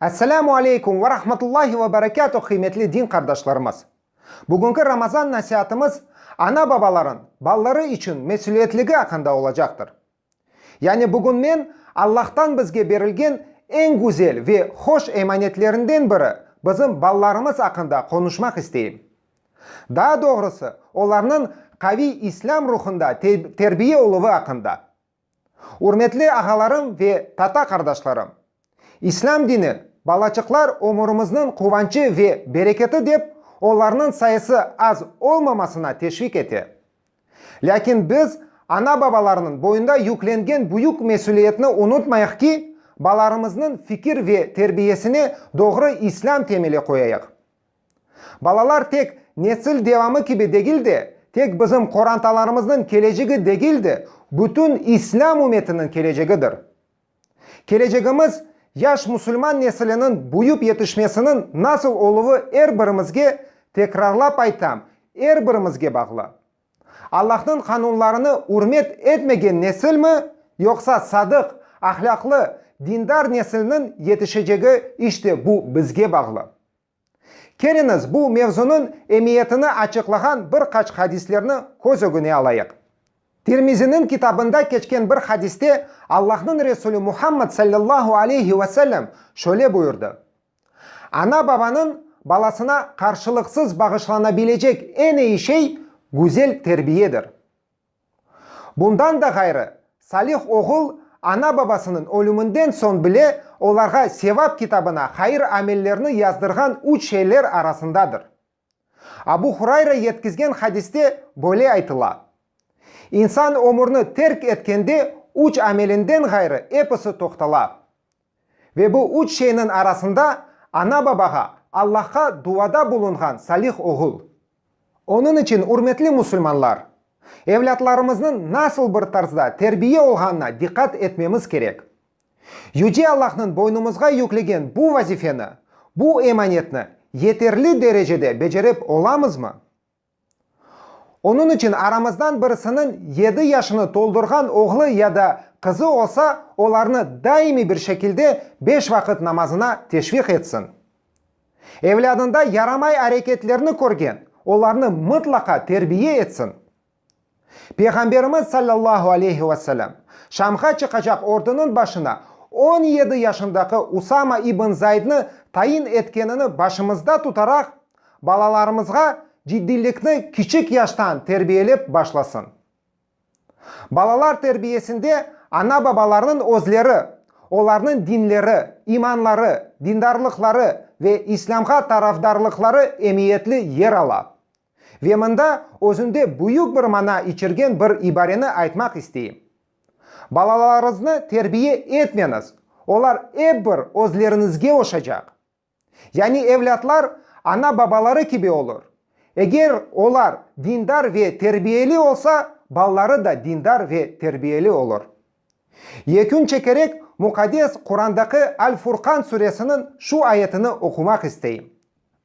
Esselamu aleykum ve rahmetullahi ve berekatuh qıymetli din qardaşlarımız! Bugünki Ramazan nasiatımız ana-babaların balları içün mesüliyetligi aqqında olacaqtır. Yani bugün men Allahtan bizge berilgen eñ güzel ve hoş emanetlerinden biri, bizim balalarımız aqqında qonuşmaq isteyim. Daa doğrusı, olarnıñ qaviy islâm ruhunda terbiye oluvı aqqında. Ürmetli ağalarım ve tata qardaşlarım! İslâm dini, balaçıqlar ömürimizniñ quvançı ve bereketi dep, olarnıñ sayısı az olmamasına teşvik ete. Lâkin biz ana-babalarnıñ boyunda yüklengen büyük mesüliyetni unutmayıq ki, balarımıznıñ fikir ve terbiyesine doğru İslâm temeli qoyayıq. Balalar tek nesil devamı kibi degil de, tek bizim qorantalarımıznıñ kelecegi degil de, bütün İslâm ümetiniñ kelecegidir. Kelecegimiz, yaş musulman nesiliniñ büyüp yetişmesiniñ nasıl oluvı er birimizge, tekrarlap aytam, er birimizge bağlı. Allahnıñ qanunlarını ürmet etmegen nesilmi, yoqsa sadıq, ahlâqlı, dindar nesilniñ yetişecegi işte bu bizge bağlı. Keliñiz, bu mevzunıñ emiyetini açıqlağan bir qaç hadislerni köz ögüne alayıq. Tirmiziniñ kitabında keçken bir hadiste Allahnıñ Resulü Muhammad sallallahu aleyhi ve sellem şöyle buyurdı, Ana-babanıñ balasına qarşılıqsız bağışlanabilecek en iyi şey güzel terbiyedir. Bundan da ğayrı, Salih oğul ana-babasınıñ ölüminden soñ bile olarğa Sevap kitabına hayır amellerni yazdırğan üç şeyler arasındadır. Abu Hurayra yetkizgen hadiste böyle aytıla, İnsan ömürni terk etkende üç amelinden ğayrı episi toqtala. Ve bu üç şeyniñ arasında ana-babağa, Allahqa duada bulunğan salih oğul. Onıñ içün, ürmetli musulmanlar, evlâtlarımıznıñ nasıl bir tarzda terbiye olğanına diqqat etmemiz kerek. Yüce Allahnıñ boynumızğa yüklegen bu vazifeni, bu emanetni yeterli derecede becerip olamızmı? Onıñ içün aramızdan birisiniñ yedi yaşını toldurğan oğlu ya da qızı olsa, olarnı daimiy bir şekilde beş vaqıt namazına teşviq etsin. Evlâdında yaramay areketlerni körgen, olarnı mıtlaqa terbiye etsin. Peyğamberimiz sallallahu aleyhi ve sellem, Şamğa çıqacaq ordunıñ başına on yedi yaşındaki Usama ibn Zaydnı tayin etkenini başımızda tutaraq, balalarımızğa ciddiylikni kiçik yaştan terbiyelep başlasın. Balalar terbiyesinde ana-babalarnıñ özleri, olarnıñ dinleri, imanları, dindarlıqları ve İslâmğa tarafdarlıqları emiyetli yer ala, Ve mında özünde büyük bir mana içergen bir ibareni aytmaq isteyim. Balalarıñıznı terbiye etmeñiz, olar ep bir özleriñizge oşacaq. Yani evlâtlar ana-babaları kibi olur. Eger olar dindar ve terbiyeli olsa, balaları da dindar ve terbiyeli olur. Yekün çekerek Muqaddes Qurandaki Al-Furqan suresiniñ şu ayetini oqumaq isteyim.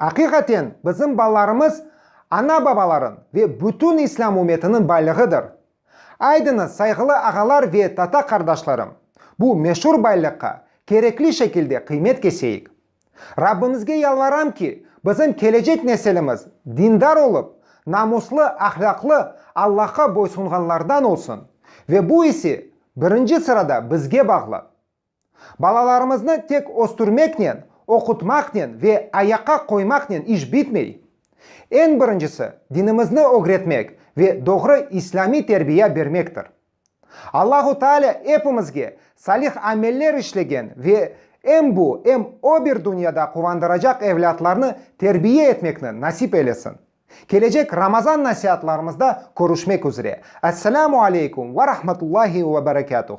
Aqiqaten, bizim balalarımız ana-babaların ve bütün İslâm ümetinin baylığıdır. Aydıñız, sayğılı ağalar ve tata qardaşlarım, bu meşur baylıqqa kerekli şekilde qıymet keseyik. Rabbimizge yalvaram ki, bizim kelecek nesilimiz dindar olıp, namuslı, ahlâqlı, Allahqa boysunğanlardan olsun, ve bu ise birinci sırada bizge bağlı. Balalarımıznı tek östürmeknen, oqutmaqnen ve ayaqqa qoymaqnen iş bitmey. Eñ birincisi, dinimizni ögretmek ve doğru islâmiy terbiya bermektir. Allahu Taalâ epimizge salih ameller işlegen ve em bu, em o bir dünyada quvandıracaq evlâtlarnı terbiya etmekni nasip eylesin. Kelecek Ramazan nasiatlarımızda körüşmek üzre. Esselamu aleykum ve rahmetullahi ve berekâtuh.